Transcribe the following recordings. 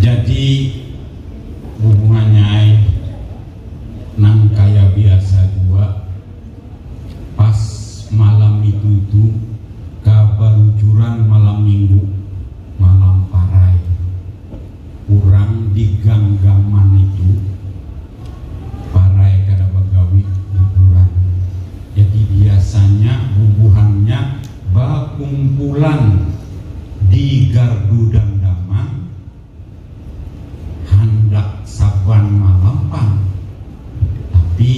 Jadi bubuhannya ai nang kaya biasa jua pas malam itu-itu ka balucuran malam minggu, malam parai. Urang di ganggaman itu. Parai kada bagawi liburan, jadi biasanya bubuhannya bakumpulan di gardu dandaman handak saban malam pang. Tapi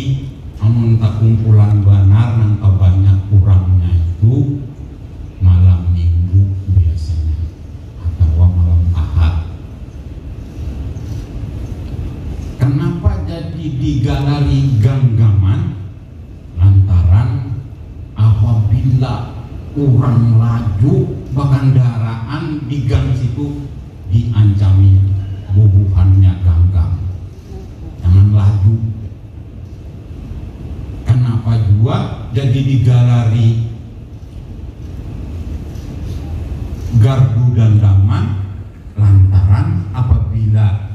amun takumpulan banar nang tabanyak urangnya itu malam minggu biasanya. atawa malam Ahad. Kanapa jadi digarari ganggaman? Lantaran apabila urang laju bakandaraan di gang situ diancami bubuhannya ganggang, jangan laju. Kanapa jua jadi digarari gardu dandaman lantaran apabila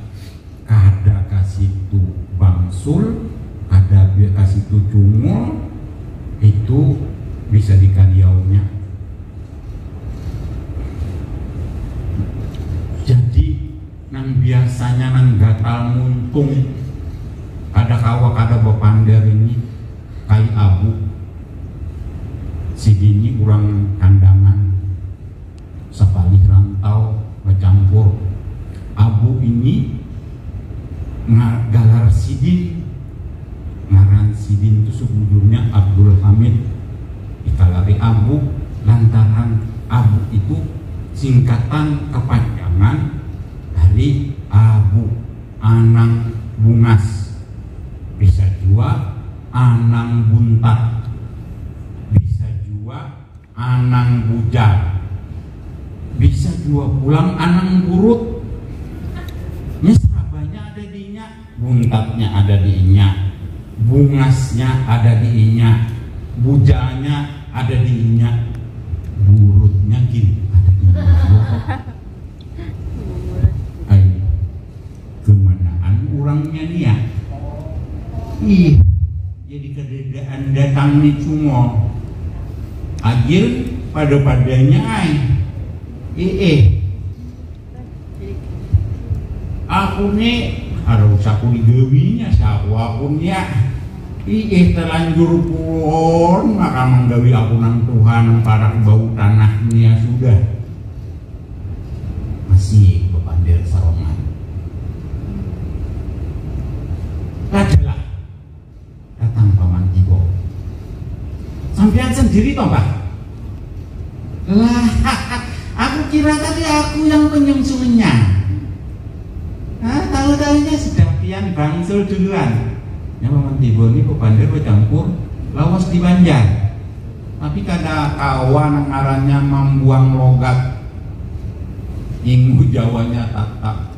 kada ka situ bangsul, kada ka situ cungul, itu bisa dikaliaunya. Jadi. Nang biasanya nang gatal muntung kada kawa kada bapander ini kai abu sidini urang kandangan sapalih rantau bacampur abu ini nga galar sidin. Ngaran sidin tu sebujurnya Abdul Hamid, dikalari Abu lantaran Abu itu singkatan kepanjangan dari Abu, Anang Bungas, bisa jua Anang Buntat, bisa jua. Anang bujang. Bisa jua pulang Anang Gurut. Nya serabanya ada di inya. Buntatnya ada di inya. Bungasnya ada di inya. Bujanya ada di inya. Gurutnya gin ada di inya jua. Ai, kemanaan urangnya nia. Ih. Jadi kadadaan datang ni cungol. Agil pada-padanya ai. Iih. Aku ni kada usah ku digawinya saku aku nya. Iih talanjur pulon maka manggawi aku nang tuha nang parak bau tanah nia sudah. Masih bapander sarongan. Kada lah. Datang paman Ibo. Sampian sendiri toh bah? Lah, aku kira tadi aku yang penyum-sumennya. Nah, tahu-tahunya sudah pian bangsul duluan. Ya paman Ibo ini kebandir bercampur lawas di Banjar. Tapi kada kawan ngarannya membuang logat. Ingu Jawanya tak tak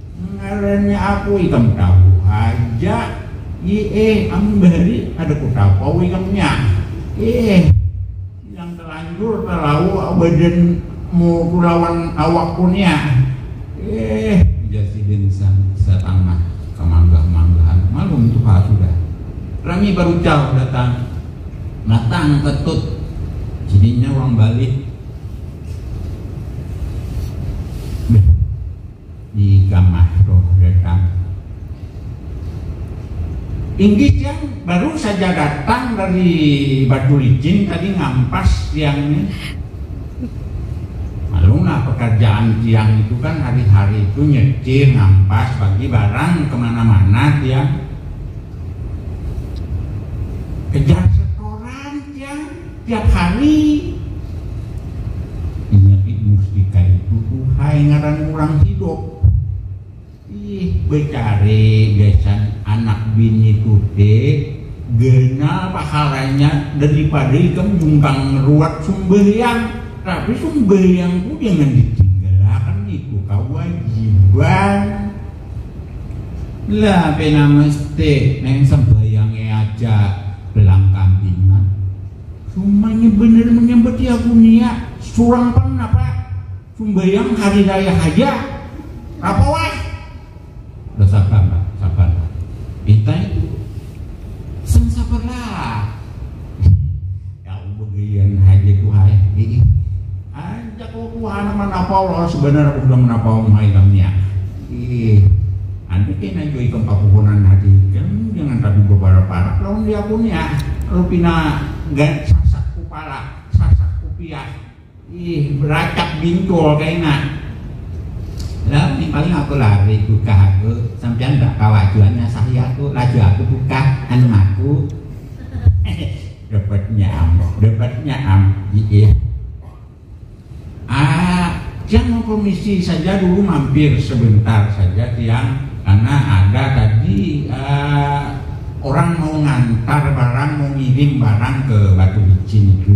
Ngarannya apa ikam tahu haja iih, amun bahari kada kutapau ikamnya iih, yang talanjur talau badan muku lawan awakku nia iih, ujar sidin satangah kamanggah-manggahan, malum tuha sudah rami barucal datang datang ketut sidinnya urang balih. Di kamah roh datang. Inggih jang, baru saja datang dari batu licin tadi ngampas tiang ni. Malum lah pekerjaan tiang itu kan hari-hari itu nyecir, ngampas, bagi barang ke mana-mana tiang. Kejar setoran tiang. Tiap hari inya gin musti kaitu tuhhai ngaran urang hidup. Ih becari gasan anak bini tu te genal pahalanya daripada ikam nyumbang ruat sumbahyang. Tapi sumbahyang tu jangan ditinggalakan itu kawajiban. Lah pina mesti neng sembahyang'e aja belang kambingan. Humanya banar manyambat ya aku ni ya, surang pang napa sumbahyang hari raya haja. Napa weh. Basabar lah, sabar lah. Itai tu, sing sabar lah. Aku bagelian haja tuh ai, hiih. Anjak lo tuh handak manapau lo, sebanar aku sudah manapau muha ikam nih ah, hiih. Antu kena jua ikam kapuhunan hati ikam jangan tapi baparak-parak lawan diaku nih ah, lo pina gan sasak kupala, sasak kupiah. Ih beracak bintul kaina. Lah nih paling aku lari bukah aku sampian ndak kawa jua nyasahi aku laju aku bukah anu aku dapatnya am dapatnya am iya ah tiang mau komisi saja dulu mampir sebentar saja tiang karena ada tadi uh, orang mau ngantar barang mau ngirim barang ke Batu Licin itu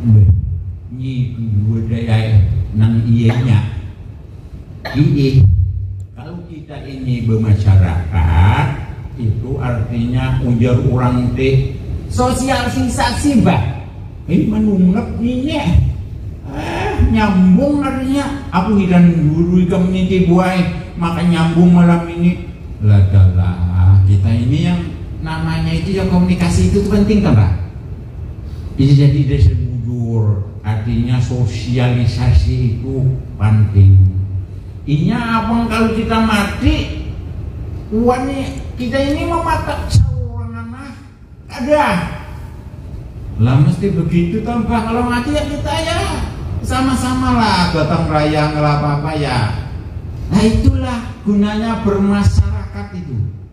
Beuh, ngitu jua dayai nang iyanya. Inggih, kalu kita ini bemasyarakat, itu artinya ujar urang te, sosial sinsasi bah. Hei manunggak nini ah. Ah, nyambung artinya, aku hiran guru ikam ini te buai, maka nyambung malam ini. Ladalah, kita ini yang namanya itu yang komunikasi itu tu penting tah bah. Bisa jadi desa bujur, artinya sosialisasi itu panting. Inya abang kalu kita mati, wani kita ini mamatak saurangan nah, kada. Lah mesti begitu toh bah, kalau mati ya kita ya sama-sama lah gotong royong kalau apa-apa ya. Nah itulah gunanya bermasyarakat itu.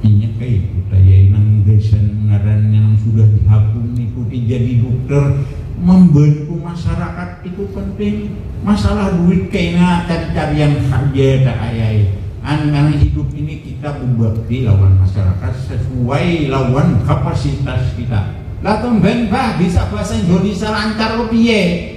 Inya kaya itu kaya nang gasan ngarannya nang sudah dihabung nitu ti jadi dukter, mambantu masarakat itu penting. Masalah duit kaina tadi carian haja dah ai ai. Anang hidup ini kita bebakti lawan masarakat sasuai lawan kapasitas kita. Lah tumben bah bisa bahasa Indonesia lancar lo piye?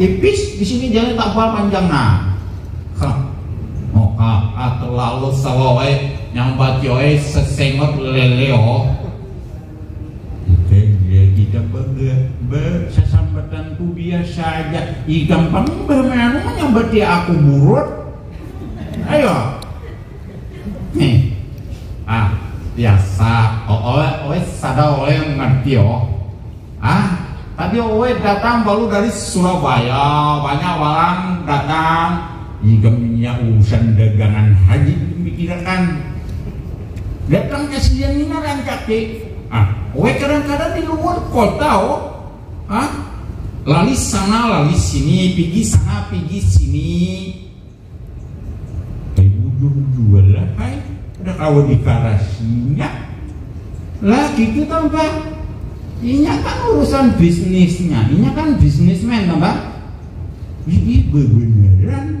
tipis di sini jadi tabal panjang nah hah oh ah, ah terlalu sawawai yang bajoy sesengot leleo tidak bangga bersesambatan ku biasa aja i gampang bermain nyambati aku buruk ayo nih ah biasa oh oleh oleh sadar oleh ngerti oh Hah? Tadi Oet datang baru dari Surabaya, banyak walang datang. Ikam ini ya urusan dagangan haja ikam pikirakan. Datangnya siang ni nah rancak ti. Hah? Oet kadang-kadang di luar kota oh. Hah? Lalis sana lalis sini, pigi sana pigi sini. Tapi bujur jua lah pai, kada kawa dikarasinya. Lagi tu tau bah, inya kan urusan bisnisnya, inya kan bisnismen tau bah. Ini bebeneran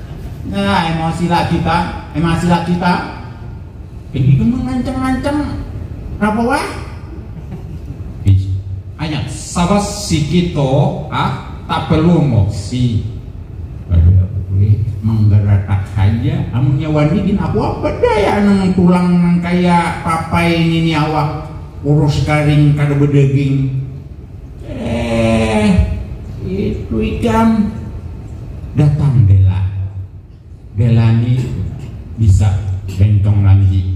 Nah, emosi lagi ta, emosi lagi ta. Ini kan mengancam-ancam apa wah? Ayat sabar sikit toh, ah, tak perlu emosi. Pada gue menggeratak haja, amunnya wani gin aku apa daya nang tulang nang kaya papai ngini awak kurus karing kada bedaging. Eh, itu ikam datang bela. Bela ni bisa bentong lanji.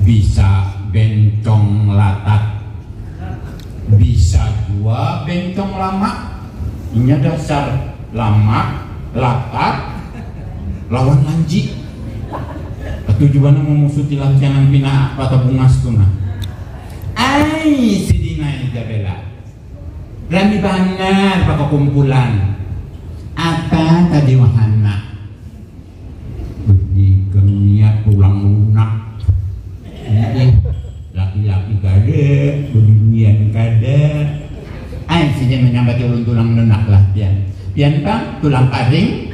Bisa bentong latat. Bisa jua bentong lamak. Inya dasar lamak, latat, lawan lanji. Ketujuannya memusuti lancangan pina apa tabungas tu nah. Ai sidin ai ja Bella. Berani banar bakakumpulan. Apa tadi wan handak? Benikam nia tulang lunak. Iih, laki-laki kada bebinian kada. Ai sidin manyambati ulun tulang lunak lah pian. Pian pang tulang karing.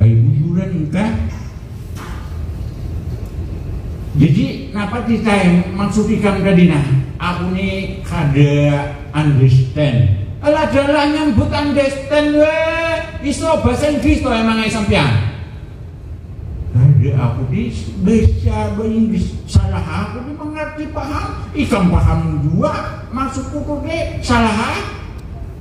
Bajujuran kah? Jadi napa ti tay maksud ikam tadi nah? Aku ni kada understand. Alah dalah nyambut understand weh, iso bahasa Inggris toh emang ai sampian? Kada aku ti bahasa Inggris, salah aku ti mangarti paham, ikam paham jua maksudku tu dek, salah ai?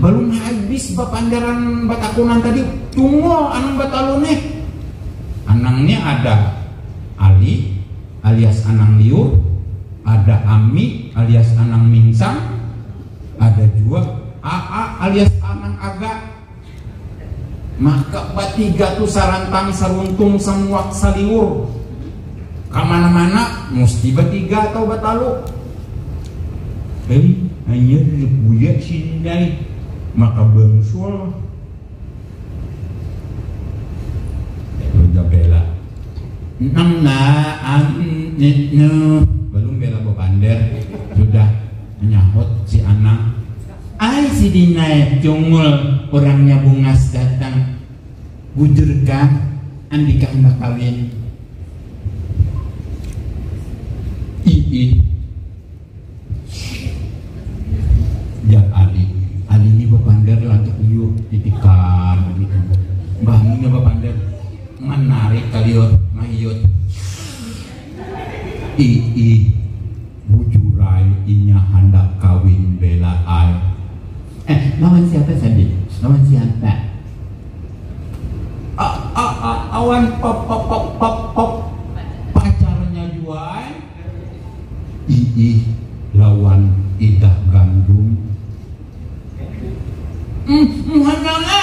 Balum habis bapandaran batakunan tadi, Tungul anang batalu nih. Anangnya ada Ali alias Anang Liur, ada Ami alias Anang Mincang, ada jua Aa alias Anang Aga. Maka batiga tu sarantang saruntung samuak saliur kamana-mana musti batiga atau batalu. Hei, hanyar buya sindai maka bangsul. Udah bela. Nang na, am, nit, nuh. Balum bela bapander. Sudah. Menyahut si Anang, ai sidin ai cungul urangnya bungas datang, bujurkah andika handak kawin? Iih, jar Ali, Ali ni bapander lantuk uyuh, ditikam mbah ni nya bapander manarik kaliur mahiyut, iih. Bujurai inya handak kawin bella ai. Eh lawan siapa Sandi? Lawan siapa? Awan pacarnya jua ai. Iih lawan idah gandum. Muhun mama.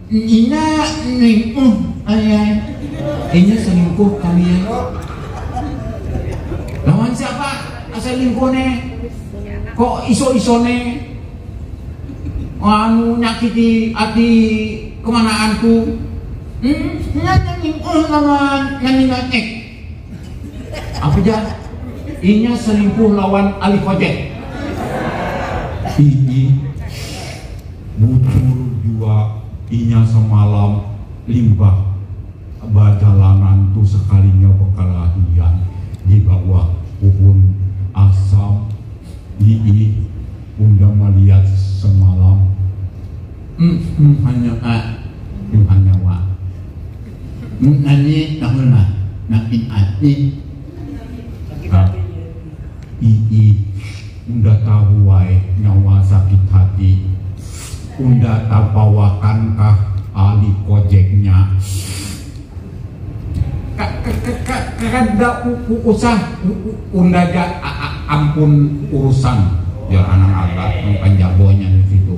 Inya ningkuh ayah. Inya selingkuh kali ya. Lawan siapa asal lingkuh ne? Kok iso-iso ne? Anu nyakiti hati kemanaanku. Hmm, inya ningkuh lawan nani nangek. Apa jar? Inya selingkuh lawan Ali Hojek. Ini, bujur jua inya samalam limbah bajalanan tu sakalinya bakalahian di bawah puhun asam, iih unda maliat samalam, emm emm hanya eeh emm hanya wah. Mun anyi tahun lah makin ati. Ii, unda tahu ai nyawa sakit hati. Unda tabawakan kah ali kojek nya. Ka-ka-ka-ka-kada u-u-usah unda ja a-a-ampun urusan, jar Anang Agat nang panjago nya di situ.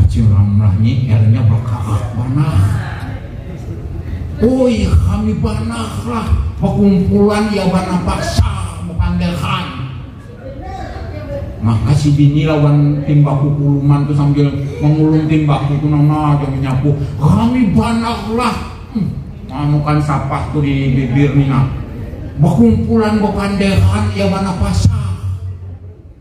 Acil Ramlah nyiernya bakaah banar. Oi, kami banar lah pakumpulan ya banar pasar bepanderan. Maka si bini lawan timbaku kuluman tu sambil mengulung timbaku tu nama aja menyapu. Kami banar lah. Hmm, manukan sapah tu di bibir ni nak. Bakumpulan bepanderan ya banar pasar.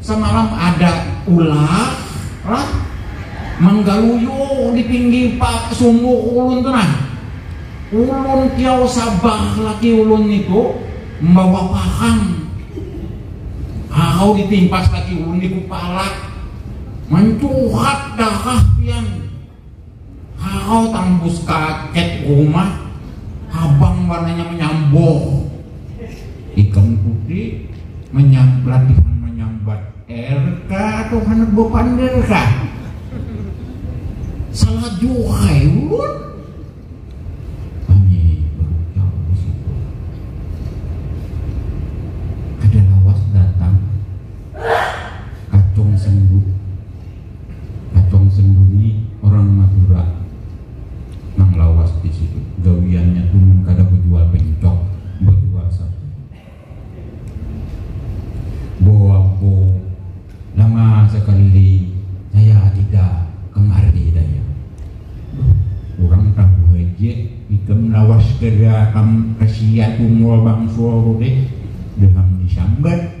Samalam ada ular lah manggaluyu di pinggir pak sumur ulun tu nah. Ulun kiau sabar laki ulun nitu mambawa parang. Harau ditimpas laki ulun di kupala. Mancurat darah pian. Haau tambus ka cat rumah habang warnanya manyamboh. Ikam tuti manyam latihan manyambat er ka tuh handak bapander ka. Salah juhai ulun. Kami barucap di situ. Kada lawas datang kacung sendu. Acong Sendu ni orang Madura nang lawas di situ. Gawiannya tu mun kada bejual pencok, bejual satu. Boabo, lama sekali saya dida kemari daya. Duh, urang tahu haja ikam lawas kada kam kasiat Ungol Bangsul tu deh, deham disambat.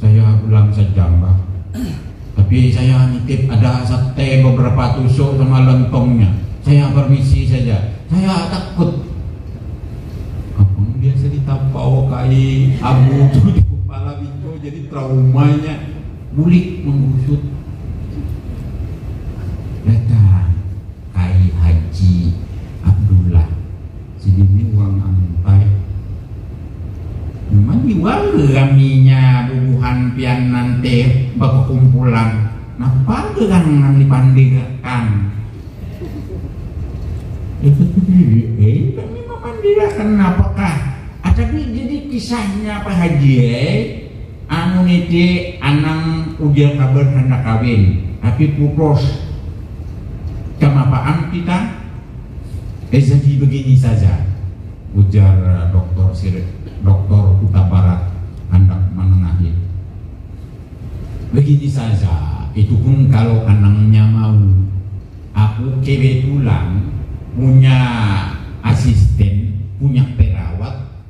Saya pulang sejam bah. Tapi saya nitip ada sate beberapa tusuk sama lontongnya. Saya permisi saja. Saya takut. Apa dia cerita pau kai abu tu di kepala biko jadi traumanya bulik menggusut. Datang kai Haji Abdullah. Sidini urang Amuntai. Nyaman jua le raminya bubuhan pian nan te bakukumpulan. Napa gerang nang dipandir akan? Ya tentu diri ai kami mapandir akan napa kah. Ah tapi jadi kisahnya Pak Haji ai, anu niti anang ujar kabar handak kawin, tapi putus. Camapaan kita. Eh jadi begini saja, ujar Doktor Sirik, Doktor Kuta Barat handak manengahi. Begini saja, itu pun kalau anangnya mau. Aku kebetulan punya asisten, punya perawat,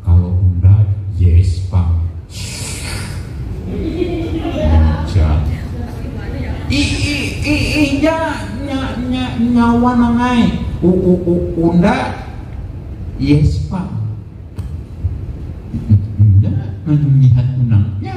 Kalo unda yes pang. Ujar. Iiiih nya nya nya nya wan nang ai. Uunda yes pang. Nya nang ngihat unang nya.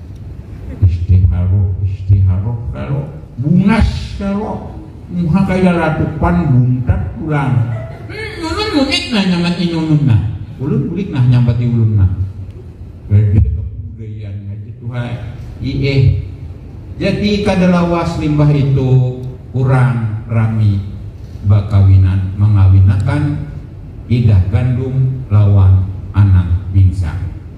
Istiharoh, istiharoh kalo, bungas kalo, muha kaya ratupan buntat pulang. Hum, ulun bulik nah nyambat ini ulun nah. Ulun bulik nah nyambat i ulun nah. Kada kabudayaan haja tuhai. Iih. Jadi kada lawas limbah itu urang rami bakawinan mangawinakan idah gandum lawan anang mingsang.